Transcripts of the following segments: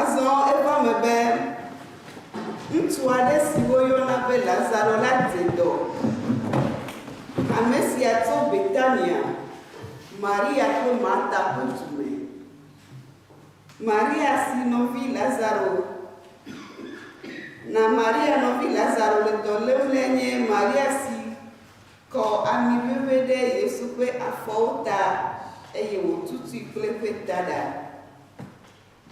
Azɔ eva me be ŋutsu aɖe si woyɔna be Lazaro la te dɔ. Ame sia tso Betania, Maria kple Marta ƒe du me. Maria si nɔvi Lazaro Na Maria nɔvi Lazaro le dɔ lém lae nye Maria si kɔ ami ʋeʋẽ ɖe Yesu ƒe afɔwo ta, eye wòtutui kple eƒe taɖa.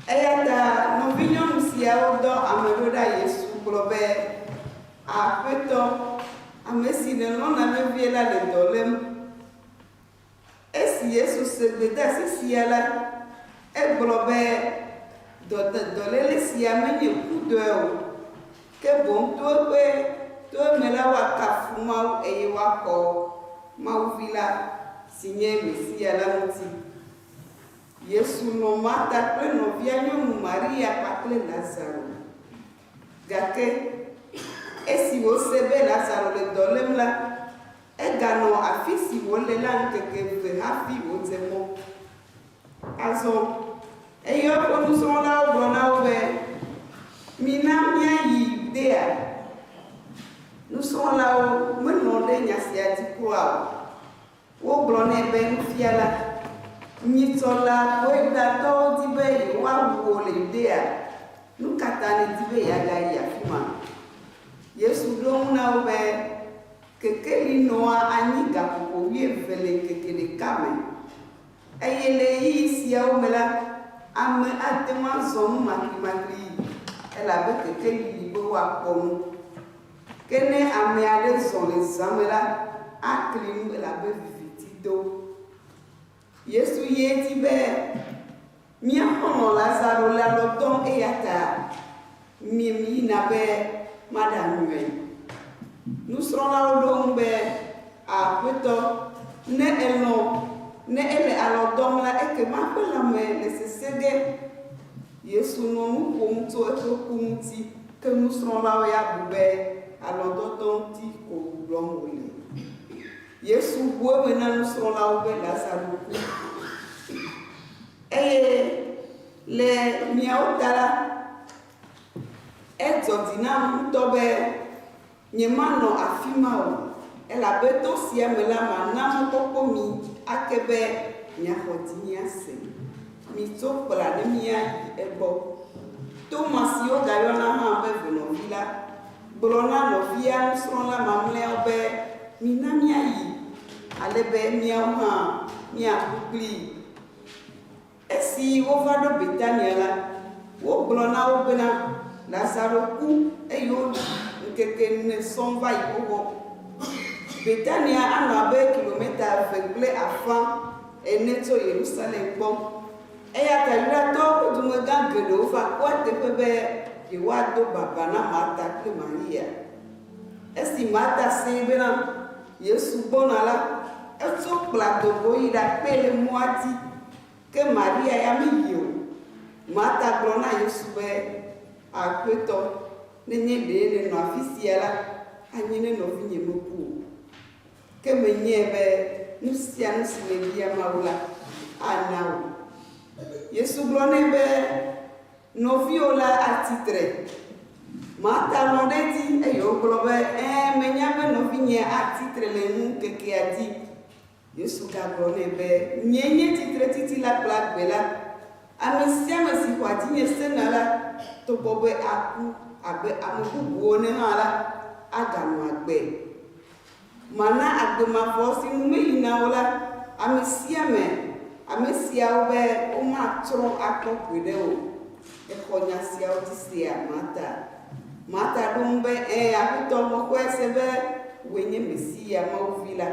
Eya ta nɔvinyɔnu siawo dɔ ame ɖo ɖa Yesu gblɔ be, Aƒetɔ, ame si nèlɔ̃na vevie la le dɔ lém. Esi Yesu se gbedasi sia la, egblɔ be, Dɔdedɔléle sia menye kudɔe o, ke boŋ to eƒe toe me la woakafu Mawu eye woakɔ Mawu Vi la, si nye Mesia la ŋuti. Yesu lɔ̃ Marta kple nɔvia nyɔnu Maria kpakple Lazaro. Gake esi wòse be Lazaro le dɔ lém la, eganɔ afi si wòle la ŋkeke eve hafi wòdze mɔ. Azɔ eyɔ eƒe nusrɔ̃lawo gblɔ na wo be, Mina míayi Yudea. Nusrɔ̃lawo melɔ̃ ɖe nya sia dzi kura o. Wogblɔ nɛ be, Nufiala, nyitsɔ la Yudatɔwo di be yewoawu wò le Yudea, nu ka ta nèdi be yeagayi afi ma? Yesu ɖo eŋu na wo be, Kekeli nɔa anyi gaƒoƒo wuieve le ŋkeke ɖeka me, eye le ɣeyiɣi siawo me la, ame ate ŋu azɔ nu maklimakli, elabe kekeli li be woakpɔ nu. Ke ne ame aɖe zɔ le zã me la, akli nu elabe viviti do. Yesu ye di be mía xɔlɔ̃ Lazaro le alɔ dɔm eya ta mim yina be maɖanyɔe. Nusrɔ̃lawo ɖo eŋu be, Aƒetɔ, ne èlɔ̃, ne ele alɔ dɔm la, ekema eƒe lãme nesesẽ ge. Yesu nɔ nu ƒom tso eƒe ku ŋuti, ke nusrɔ̃lawo ya bu be alɔ̃dɔdɔ ŋuti ko gblɔm wòle. Yesu bu eme na nusrɔ̃lawo be Lazaro ku. Eye le miawo ta la, edzɔ dzi nam ŋutɔ be Nyemanɔ afi ma o, elabe to sia me la mana mɔkpɔkpɔ mi ake be miaxɔ dzinye ase. Mitso kpla ne míayi egbɔ. Toma si wogayɔna hã be Ʋunɔvi la, gblɔ na nɔvia nusrɔ̃la mamlɛawo be, Mina míayi, ale be míawo hã míaku kplii. Esi wova ɖo Betania la, wogblɔ na wo bena, Lazaro ku, eye woɖi ŋkeke ene sɔŋ va yi xoxo. Betania anɔ abe kilometa eve kple afã ene tso Yerusalem gbɔ, eya ta Yudatɔwo ƒe dumegã geɖewo va kpɔa teƒe be yewoado baba na Marta kple Maria. Esi Marta see bena Yesu gbɔna la, etso kpla do go yi ɖakpee le mɔa dzi, ke Maria ya meyi o. Marta gblɔ na Yesu be, Aƒetɔ, ne nye ɖee nènɔ afi sia la, anye ne nɔvinye meku o. Ke menyae be nu sia nu si nèbia Mawu la, ana wò. Yesu gblɔ nɛ be, Nɔviwò le atsi tre. Marta lɔ̃ ɖe edzi, eye wògblɔ be, Ẽ, menya be nɔvinye atsi tre le nu ŋkekea dzi. Yesu gagblɔ nɛ be, Nyee nye tsitretitila kple agbe la. Ame sia ame si xɔa dzinye sena la, togbɔ be aku abe ame bubuwo ene hã la, aganɔ agbe. Mana agbe mavɔ si nu meyi na wo la ame sia ame, ame siawo be womatrɔ akpɔ gbeɖe o. Exɔ nya siawo dzi sea? Marta. Marta ɖo eŋu be, Ẽ, Aƒetɔ, mexɔe se be wòe nye Mesia, Mawu Vi la,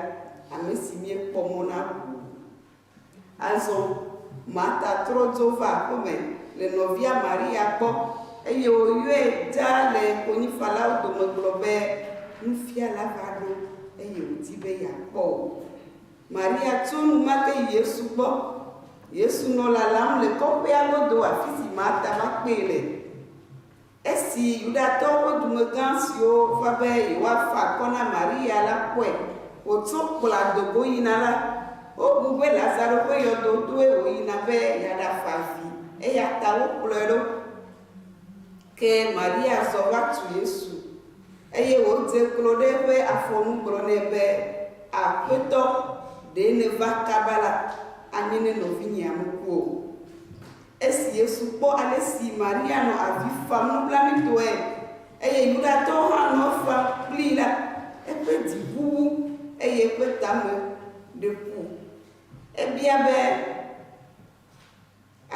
ame si míekpɔ mɔ na ʋu. Azɔ Marta trɔ dzo va aƒe me le nɔvia Maria gbɔ, eye wòyɔe dzaa le konyifalawo dome gblɔ be, Nufiala va ɖo, eye wòdi be yeakpɔ wò. Maria tso enumake yi Yesu gbɔ. Yesu nɔ lalam le kɔƒea godo afi si Marta va kpee le. Esi Yudatɔwo ƒe dumegã siwo va be yewoafa akɔ na Maria la kpɔe wòtso kplɔ̃a do go yina la, wobu be Lazaro ƒe yɔdo toe wòyina be yeaɖafa vi, eya ta wokplɔe ɖo. Ke Maria zɔ va tu Yesu, eye wòdze klo ɖe eƒe afɔ nu gblɔ nɛ be, Aƒetɔ, ɖe nèva kaba la, anye ne nɔvinyea meku o. Esi Yesu kpɔ ale si Maria nɔ avi fam nublanuitɔe eye Yudatɔwo hã nɔ efam kplii la, eƒe dzi ʋu wu eye eƒe tame ɖe ku. Ebia be,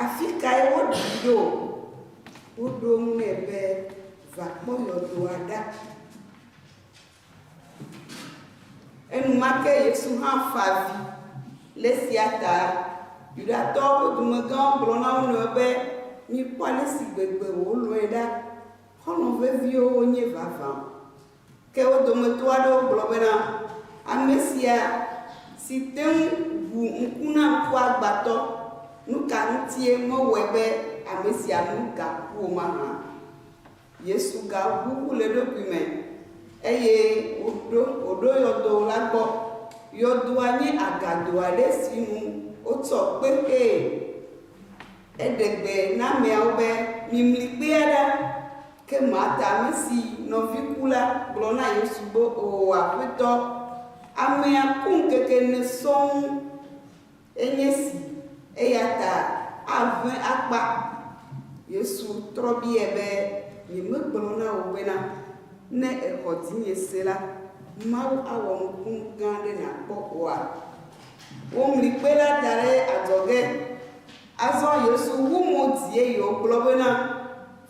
Afikae woɖii ɖo? Woɖo eŋu nɛ be, Va kpɔ yɔdoa ɖa. Enumake Yesu hã fa avi. Le esia ta Yudatɔwo ƒe dumegãwo gblɔ na wo nɔewo be, Mikpɔ ale si gbegbe wòlɔ̃e ɖa! Xɔlɔ̃ veviwo wonye vavã! Ke wo dometɔ aɖewo gblɔ bena, Ame sia, si te ŋu ʋu ŋku na ŋkuagbãtɔ, nu ka ŋutie mewɔe be ame sia nu gaku o mahã? Yesu gaʋu ʋu le eɖokui me, eye wòɖo wòɖo yɔdo la gbɔ. Yɔdoa nye agado aɖe si nu wotsɔ kpe xee. Eɖe gbe na ameawo be, Mimli kpea ɖa. Ke Marta, ame si nɔvi ku la, gblɔ na Yesu be, Oo, Aƒetɔ, amea ku ŋkeke ene sɔŋ. Enye si, eya ta aʋẽ akpa. Yesu trɔ biae be, Nyemegblɔ na wò bena, ne èxɔ dzinye se la, Mawu awɔ nukunu gã aɖe nàkpɔ oa? Womli kpe la da ɖe adzɔge. Azɔ Yesu wu mo dzi eye wògblɔ bena,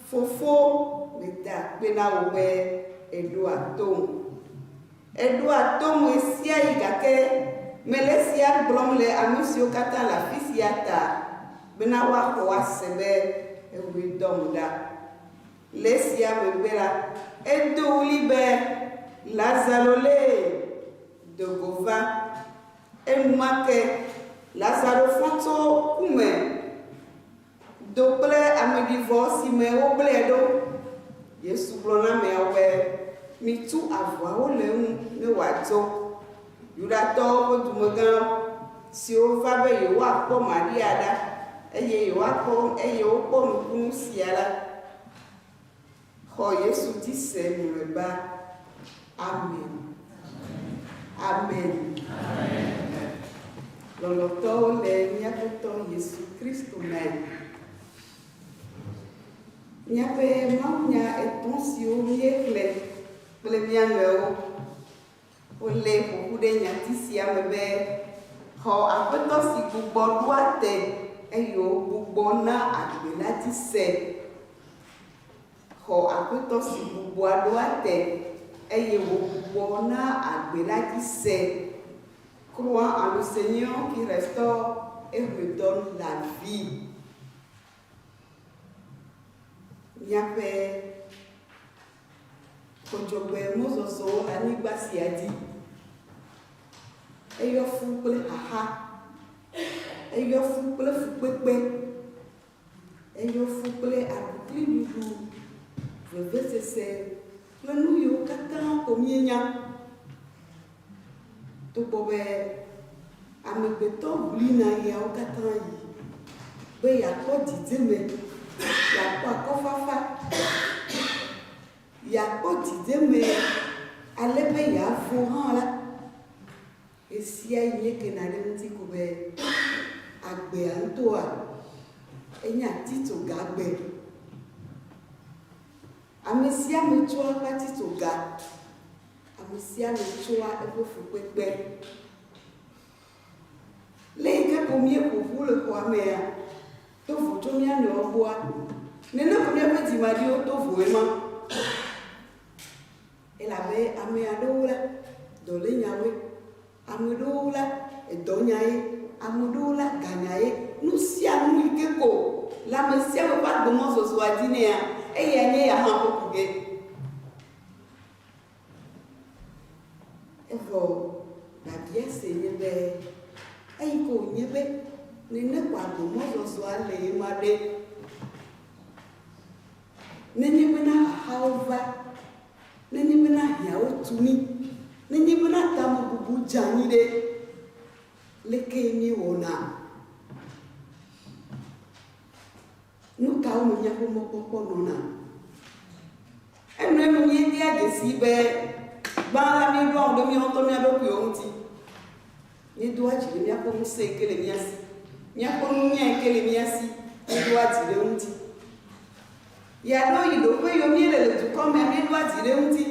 Fofo, meda akpe na wò be èɖoa tom. Eɖoa tom ɣesiaɣi gake mele esia gblɔm le ame siwo katã le afi sia ta bena woaxɔ ase be eŋue dɔm ɖa. Le esia megbe la, edo ɣli be, Lazaro lee! Do go va! Enumake Lazaro fɔ tso ku me. Do kple ameɖivɔ si me wogblẽe ɖo. Yesu gblɔ na ameawo be, Mitu avɔawo le eŋu ne wòadzo. Yudatɔwo ƒe dumegã siwo va be yewoakpɔ Maria ɖa eye yewoakpɔ eye wokpɔ nukunu sia la, Xɔ Yesu di se mlɔeba. Amen. Amen. Lɔlɔtɔwo le mía Aƒetɔ Yesu Kristo me. Míaƒe mawunya etɔ̃ siwo míexlẽ kple mía nɔewo Wolée ƒo ƒu ɖe nyati sia me be, Xɔ Aƒetɔ si gbugbɔ ɖoa te, eye wògbugbɔ na agbe la dzi se. Xɔ Aƒetɔ si gbugbɔa ɖoa te, eye wògbugbɔ na agbe la dzi se. Croix en le Seigneur qui restaure et redonne la vie. Míaƒe. Kodzogbe mɔzɔzɔwo le anyigba sia dzi. Eyɔ fu kple xaxa. Eyɔ fu kple fukpekpe. Eyɔ fu kple aɖukliɖuɖu, vevesese kple nu yiwo katã ko míenya. Togbɔ be amegbetɔ ʋli naɣiawo katã yi be yeakpɔ dzidzeme, yeakpɔ akɔfafa, yeakpɔ dzidzeme ale be yeavo hã la, ɣesiaɣi míekena ɖe eŋuti ko be agbea ŋutɔa enye atitsoga agbe. Amesiame tsɔa eƒe atitsoga. Amesiame tsoa eƒe fukpekpe. Le yike ko míeƒoƒu le xɔa mea, do vo tso mía nɔewo gbɔa, nene ko míaƒe dzimaɖiwo do voe ma. Elabe ame aɖewo la, dɔ le nya woe, ame aɖewo la, edɔ nya ye, ame aɖewo la, ga nya ye. Nu sia nu yike ko le amesiame ƒe agbemɔzɔzɔa dzi nɛa, eyae nye ya hã ƒe ku ge. Evɔ biabia se nye be, Eyi ke wònye be ne nèkpɔ agbe mɔzɔzɔ ale ye ma ɖe? Nenye bena xaxawo va, nenye bena hiãwo tu mí, nenye bena tamebubu dze anyi ɖe, lekee míewɔna? Nu kawo me míaƒe mɔkpɔkpɔ nɔna? Enuenu míedea dzesii be gbã la míeɖoa ŋu ɖe mía ŋutɔ mía ɖokuiwo ŋuti. Míedoa dzi ɖe míaƒe ŋusẽ yi ke le mía si, míaƒe nunya yi ke le mía si, míeɖoa dzi ɖe eŋuti. Yeaɖo yi ɖoƒe yiwo míele le dukɔ mea, míeɖoa dzi ɖe eŋuti.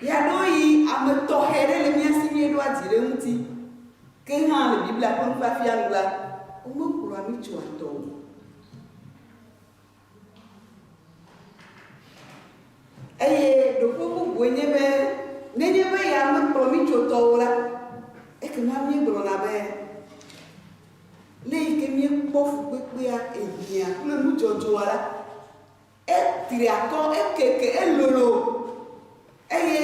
Yeaɖo yi ame tɔxɛ ɖe le mía si, míeɖoa dzi ɖe eŋuti. Ke hã le Biblia ƒe nufiafia nu la, womekplɔa mí tsoa tɔ o. Eye ɖoƒe bubue nye be nenye be ya mekplɔ mí tso tɔ o la, ekema míegblɔna be, Le yi ke míekpɔ fukpekpea, ehiã kple nudzɔdzɔa la, Etri akɔ, ekeke, elolo, eye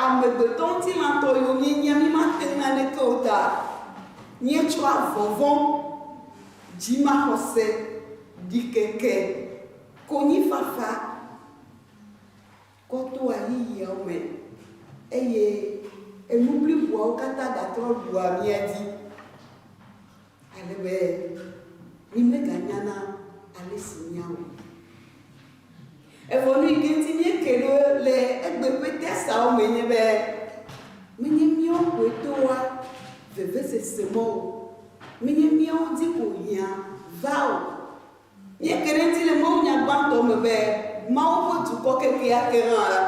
amegbetɔŋutilãtɔ yiwo míenye mímate ŋu naneke o ta míetsɔa vɔvɔ̃, dzimaxɔse, ɖikeke, konyifafa, kɔ to ɣeyiɣiawo me, eye enu bliboawo katã gatrɔ ɖua mía dzi, ale be mímeganyana ale si míawɔe o. Evɔ nu yi ke ŋuti míeke ɖo le egbe ƒe tesawo me nye be, menye míawo koe toa vevesesemɔ o, menye míawo di ko hiã vaa o, Míeke ɖe edzi le mawunya gbãtɔ me be, Mawu ƒe dukɔ kekeake hã la,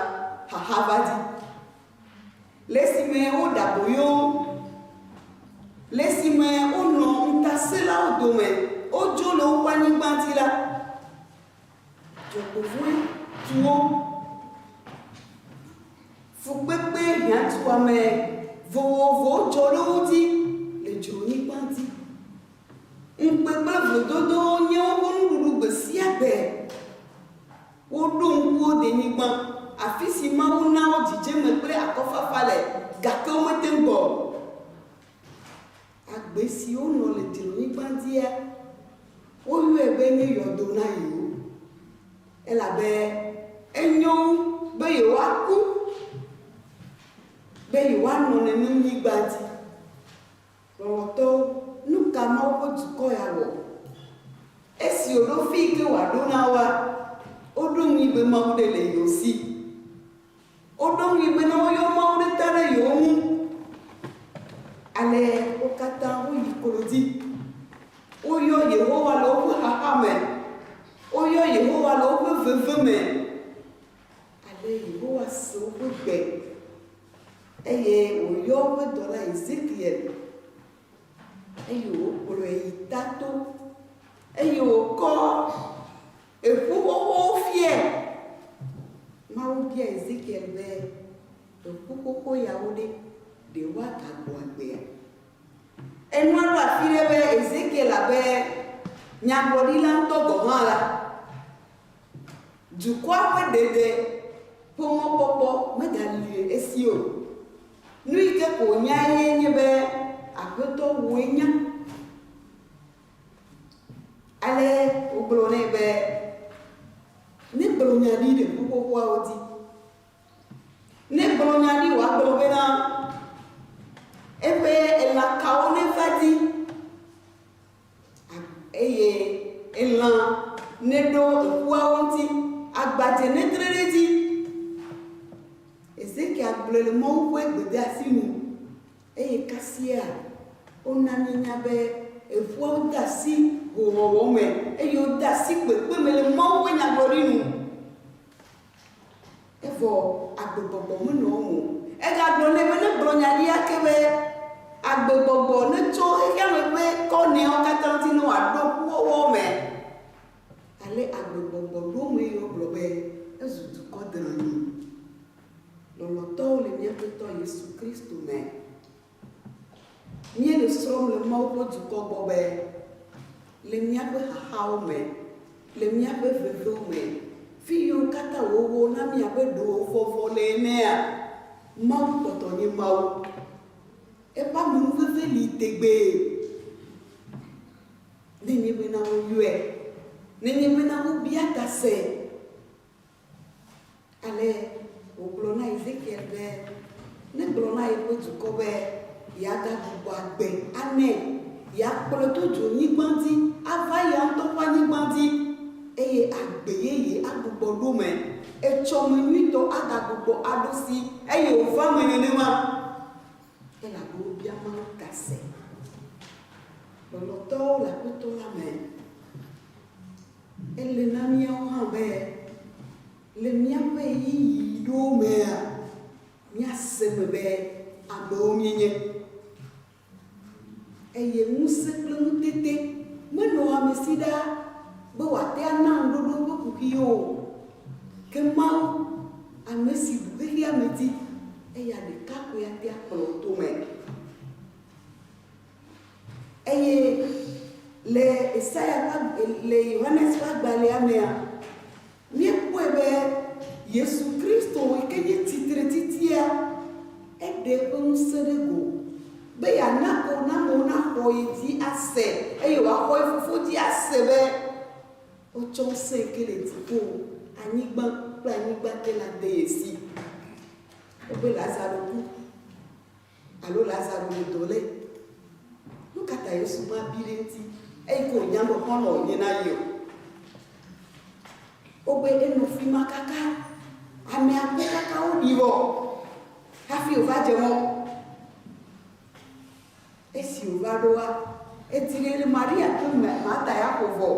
xaxa va di. Le esime woɖe aboyo wo, le esime wonɔ ŋutasẽlawo dome, wodzo le woƒe anyigba dzi la, dzɔgbevɔ̃e tu wo. Fukpekpe hiãtuame vovovowo dzɔ ɖe wo dzi le dzronyigba dzi. Ŋukpe kple vlododowo nye woƒe nuɖuɖu gbesiagbe. Woɖo ŋku wo denyigba, afisi Mawu na wo dzidzeme kple akɔfafa le, gake womete ŋu gbɔ o. Agbe si wonɔ le dzronyigba dzia, woyɔe be nye yɔdo na yewo, elabe enyo wu be yewoaku be yewoanɔ nenem nyigba dzi. Lɔlɔ̃tɔwo, nu ka Mawu ƒe dukɔ ya wɔ? Esi wòɖo afi yi ke wòaɖo na woa, woɖo ŋui be Mawu ɖe le yewo si. Woɖo ŋui be ne woyɔ Mawu ɖe ta ɖe yewo ŋu alea, wo katã woyi klodzi. Woyɔ Yehowa le woƒe xaxa me. Woyɔ Yehowa le woƒe veve me. Ale Yehowa se woƒe gbe Eye wòyɔ eƒe dɔla Ezekiel, eye wòkplɔe yi tato, eye wòkɔ eƒu xoxowo fiae. Mawu bia Ezekiel be, Eƒu xoxo yawo ɖe, ɖe woagagbɔ agbea? Enua ɖo afi ɖe be Ezekiel abe nyagblɔɖila ŋutɔ gɔ̃ hã la, Dukɔa ƒe ɖeɖe ƒe mɔkpɔkpɔ megali le esi o. Nu yi ke ko wònyae ye nye be Aƒetɔ wòe nya. Ale wogblɔ nɛ be, Negblɔ nya ɖi le ƒuƒoƒoawo dzi. Negblɔ nya ɖi wòagblɔ bena, Eƒe elãkawo neva di. Eye elã neɖo ekuawo ŋuti, agbadze netre ɖe edzi. Hezekia gblɔe le Mawu ƒe gbedeasi nu eye kasia wona míenya be ekuawo de asi hoowɔwɔ me eye wode asi kpekpe me le Mawu ƒe nyagblɔɖi nu. Evɔ agbegbɔgbɔ menɔ eŋu o. Egagblɔ nɛ be, Negblɔ nya ɖi ake be, agbegbɔgbɔ netso xexeame ƒe kɔnɛawo katã ŋuti ne wòaɖo kuwɔwɔ me. Ale agbegbɔgbɔ ɖo ŋu eye wogblɔ be, Ezu dukɔ dranyi. Lɔlɔ̃tɔwo le mía Aƒetɔ Yesu Kristo me. Míele srɔ̃m le Mawu ƒe dukɔ gbɔ be, le míaƒe xaxawo me, le míaƒe veviwo me, fiyiwo katã wòwɔ na mí abe ɖe wòvɔvɔ le enea, Mawu kpɔtɔ nye Mawu. Eƒe amenuveve li tegbee. Nenye bena woyɔe. Nenye bena wobia ta see. Ale wògblɔ na Ezekiel be negblɔ na yeƒe dukɔ be yeagagbugbɔ agbe anɛ, yeakplɔe to dzronyigba dzi ava eya ŋutɔ ƒe anyigba dzi, eye agbe ye yeagbugbɔ ɖo me. Etsɔ me nyuitɔ agagbugbɔ aɖo si, eye wòva eme nenema, elabe wobia Mawu ta se. Lɔlɔ̃tɔwo le Aƒetɔ la me. Ele na míawo hã be le míaƒe ɣeyiɣiwo mea, míase eme be amewo míenye. Eye ŋusẽ kple ŋutete menɔa amesi ɖaa be wòate ana ŋuɖoɖo ƒe kuxi o. Ke Mawu, amesi bu xexeame di, eya ɖeka koe ate akplɔ wò tome. Eye le Esaya ƒe agb, le Yohanes ƒe agbalẽa mea, míekpɔe be Yesu Kristo yi ke nye Tsitretitia, eɖe eƒe ŋusẽ ɖe go be yeana ko ne amewo naxɔ ye dzi ase eye woaxɔ ye Fofo dzi ase be wotsɔ ŋusẽ yi ke le dziƒo, anyigba kple anyigba te la de ye si. Ebe Lazaro ku. Alo Lazaro ɖe do lé. Nu ka ta Yesu ma bi ɖe ŋuti eyi ke wònya be xɔlɔ̃ wònye na ye o? Wogbe enɔ fi ma kaka ame akpe kaka woɖi vɔ hafi wòva dze mɔ. Esi wòva ɖoa, edi ɖe ne Maria kple Marta ya ƒo vɔ.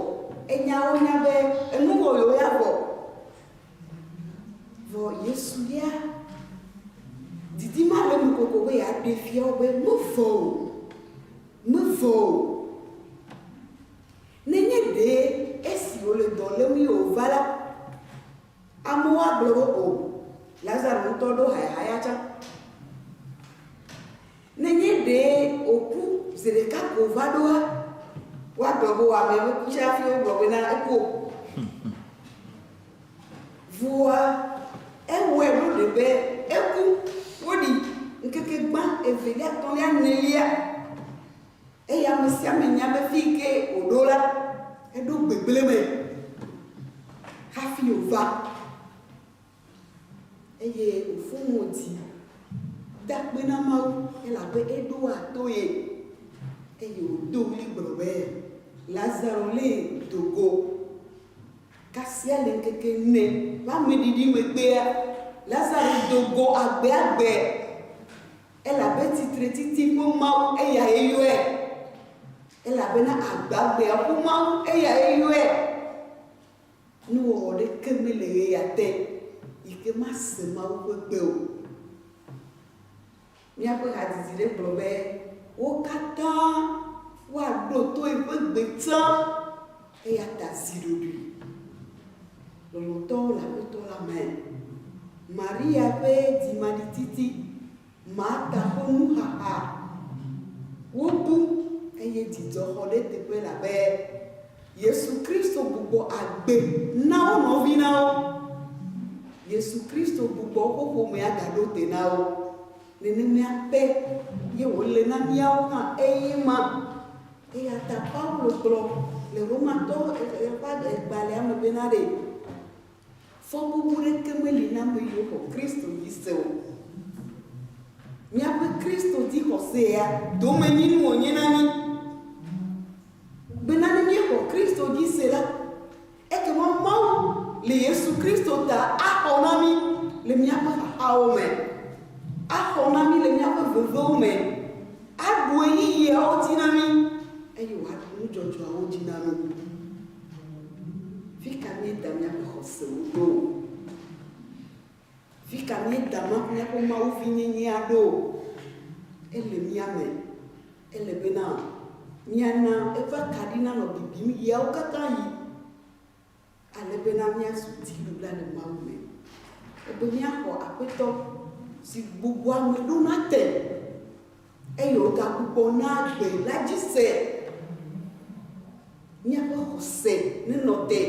Enya wo nya be enu wɔ yewo ya vɔ. Vɔ Yesu ya didi ma le nu koko be yeaɖe fia wo be mevɔ̃ o, mevɔ̃ o. Nenye ɖe esi wòle dɔ lém ye wòva la, amewo agblɔ be, O, Lazaro ŋutɔ ɖo hayahaya tsã. Nenye ɖe wòku zi ɖeka ko va ɖoa, woagblɔ be wòame nuku tsɛ hafi wogblɔ bena eku o. Vɔa, ewɔe ɖo ɖe be eku. Woɖii ŋkeke gbã, evelia, etɔ̃lia, enelia. Eye ame sia ame nya be fii ke wòɖo la, eɖo gbegblẽ me hafi wòva. Eye wòfɔ mo dzi da akpe na Mawu elabe eɖoa to ye. Eye wòdo ɣli gblɔ be, Lazaro lé do go. Kasia le ŋkeke ene ƒe ameɖiɖi megbea, Lazaro do go agbeagbe, elabe tsitretiti ƒe Mawu eyae yɔe. Elabena agbeagbea ƒe Mawu eyae yɔe. Nuwɔwɔ ɖeke mele ɣeya te yi ke mase Mawu ƒe gbe o. Míaƒe hadzidzi ɖe gblɔ be, Wo katã woaɖo to eƒe gbe tsã, eya ta zi ɖoɖoe lɔlɔ̃tɔwo le Aƒetɔ la me. Maria ƒe dzimaɖititi. Marta ƒe nuxaxa wobu eye dzidzɔ xɔ ɖe teƒe elabe Yesu Kristo gbugbɔ agbe na wo nɔvi na wo. Yesu Kristo gbugbɔ woƒe ƒomea gaɖo te na wo. Nenemea ke ye wòle na míawo hã eye ma. Eya ta Paulo gblɔ le Romatɔwo ƒe agbalẽa me bena ɖe Fɔbubu ɖeke meli na ame yiwo xɔ Kristo dzi se o. Míaƒe Kristo dzi xɔse ya domenyinu wònye na mí. Bena ne míexɔ Kristo dzi se la, ekema Mawu le Yesu Kristo ta axɔ na mí le míaƒe xaxawo me, axɔ na mí le míaƒe vevewo me, aɖu ɣeyiɣiawo dzi na mí, eye wòaɖu nu dzɔdzɔeawo dzi na mí. Fi ka míeda míaƒe xɔsewo ɖo? Fi ka míeda míaƒe mawuvinyenyea ɖo? Ele mía me. Ele bena míana eƒe akaɖi nanɔ bibim ɣeawo katã ɣi, ale bena míazu dziɖula le Mawu me, ebe míaxɔ Aƒetɔ si gbugbɔa ame ɖona te. Eye wògaku kpɔ na gbe la dzi se. Míaƒe xɔse nenɔ te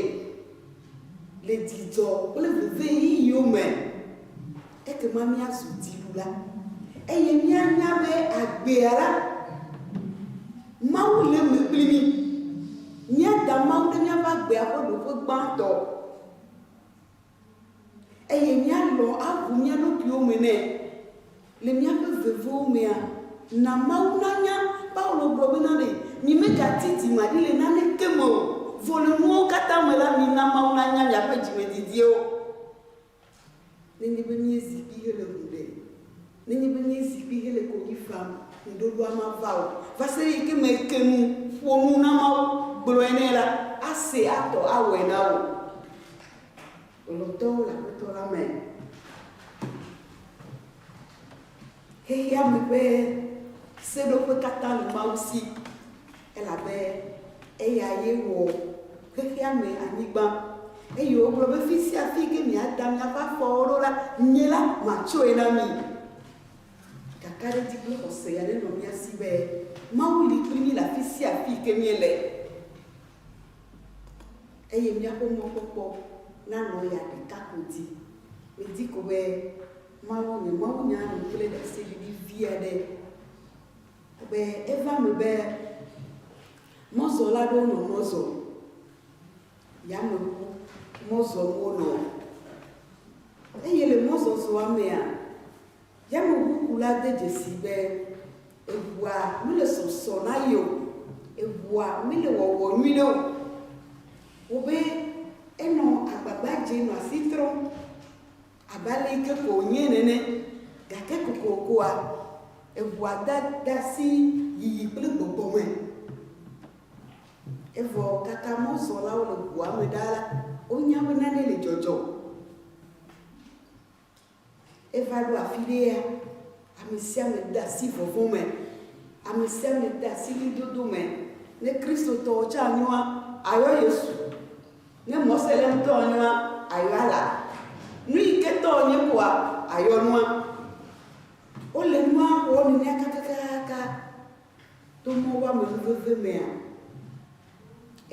le dzidzɔ kple veviɣeyiɣiwo me. Ekema míazu dziɖula, eye míanya be agbea la, Mawu le eme kpli mí. Míada Mawu ɖe míaƒe agbea ƒe ɖoƒe gbãtɔ eye míalɔ̃ aʋu mía ɖokuiwo me nɛ. Le míaƒe veviwo mea, na Mawu nanya. Paulo gblɔ bena, Ɖe nyimegati dzi maɖi le naneke me o. Vɔ le nuwo katã me la, mina Mawu nanya miaƒe dzimedidiwo. Nenye be míezi kpi hele ŋu ɖem, nenye be míezi kpi hele konyi fam, ŋuɖoɖoa mava o. Va se ɖe yi ke me èke nu, ƒo nu na Mawu, gblɔe nɛ la, ase, atɔ, awɔe na wò. Lɔlɔ̃tɔwo le Aƒetɔ la me. Xexeame ƒe seɖoƒe katã le Mawu si, elabe eya ye wɔ xexeame, anyigba. Eye wògblɔ be, Fi sia fi ke miada miaƒe afɔwo ɖo la, nye la, matsɔe na mi. Kakaɖedzi kple xɔse ya nenɔ mía si be Mawu li kpli mí le afi sia afi ke míele. Eye míaƒe mɔkpɔkpɔ nanɔ ya ɖeka ko di. Midi ko be Mawu, nye mawunya nu kple ɖaseɖiɖi vi aɖe. Abe eva eme be mɔzɔla aɖewo nɔ mɔ zɔm, yameŋu mɔ zɔm wonɔ. Eye le mɔzɔzɔa mea, Yameʋukula de dzesii be eʋua mele sɔsɔ na ye o, eʋua mele wɔwɔ nyui na o. Wobe enɔ agbagba dzem nɔ asi trɔm abe ale yi ke ko wònye nene. Gake kokokoa, eʋua da de asi yiyi kple gbɔgbɔ me. Evɔ kaka mɔzɔlawo le ʋua me ɖaa la, wonya be nane le dzɔdzɔm. Eva ɖo afi ɖea, ame sia ame de asi vɔvɔ̃ me, ame sia ame de asi ɣlidodo me. Ne Kristotɔwo tsã nyoa, ayɔ Yesu. Ne Mɔselemtɔ nyoa, ayɔ Allah. Nu yi ke tɔ wònye koa, ayɔ nua. Wole nua wɔm nenea kakakaka to mɔwɔame nuveve mea.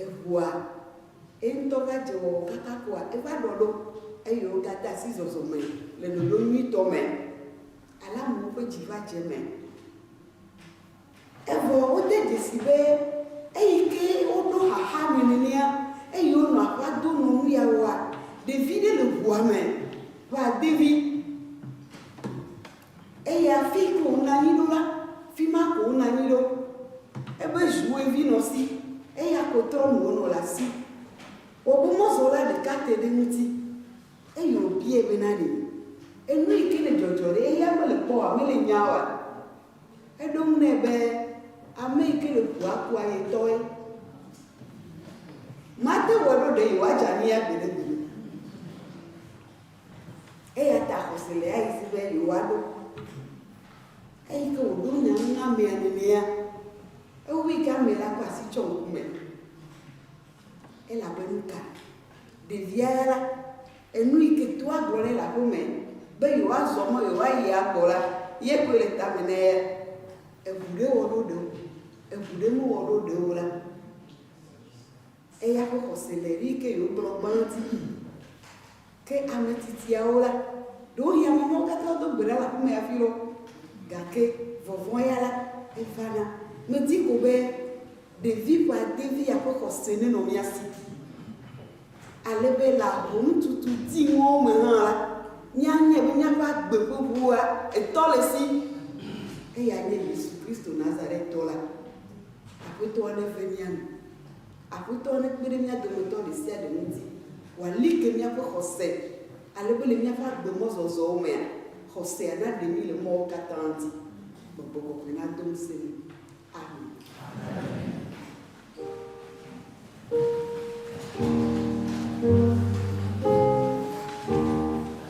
Eŋua, eŋutɔ va dze wɔwɔ katã kpɔa, eva ɖɔ ɖo, eye wogade asi zɔzɔme le ɖoɖo nyuitɔ me. Alamwo ƒe dzi va dze eme. Evɔ wode dzesii be eyi ke woɖo xaxa nɛ nenea, eye wonɔ aƒea dom nɔ nu ya wɔa. Ɖevi ɖe le ŋua me va de vi. Eye afii ko wonanyi ɖo la, fima ko wonanyi ɖo. Ebe ʒue vi nɔ si, eya ko trɔ nuwo nɔ le asi. Wobe mɔzɔla ɖeka te ɖe eŋuti, eye wobiae be na ɖee, enu yi ke le dzɔdzɔ ɖe eya mele kpɔ oa, mele nya oa? Eɖo eŋu nɛ be, Ame yi ke le ƒua kua ye tɔe. Mate ŋu aɖo ɖe yewoadze anyi ya gbeɖegbeɖe o. Eya ta xɔse le ayi si be yewoaɖo. Eyi ke wòɖo nya ŋu na amea nenea, ewui ke ame la ƒe asi tsɔ ŋku me. Elabe nuka? Ɖevia ya la, enu yi ke toa gblɔ nɛ le aƒe me be yewoazɔ mɔ yewoayi agbɔ la ye koe le tame na eya. Eŋu ɖe wɔ ɖo ɖe o, eŋu ɖe mewɔ ɖo ɖe o la, Eya ƒe xɔse le ɣi ke yewoklɔ gbãti yi. Ke ame tsitsiawo la, ɖewohĩ ame mawo katã wodo gbe ɖa le aƒeme hafi lɔ, gake vɔvɔ̃ ya la, evana. Medi ko be ɖevi ƒe adelia ƒe xɔse nenɔ mía si, ale be le ahomtutu diŋɔwo me hã la, míanyae be míaƒe agbe ƒe ʋua etɔ le si, eyae nye Yesu Kristo Nazaretɔ la. Aƒetɔa neve mía nu. Aƒetɔ nekpe ɖe mía dometɔ ɖe sia ɖe ŋuti wòali ke míaƒe xɔse ale be le míaƒe agbemɔzɔzɔwo mea, xɔsea naɖe mí le mɔwo katã dzi. Gbɔgbɔ kɔkɔe nado ŋusẽ mí. Amen.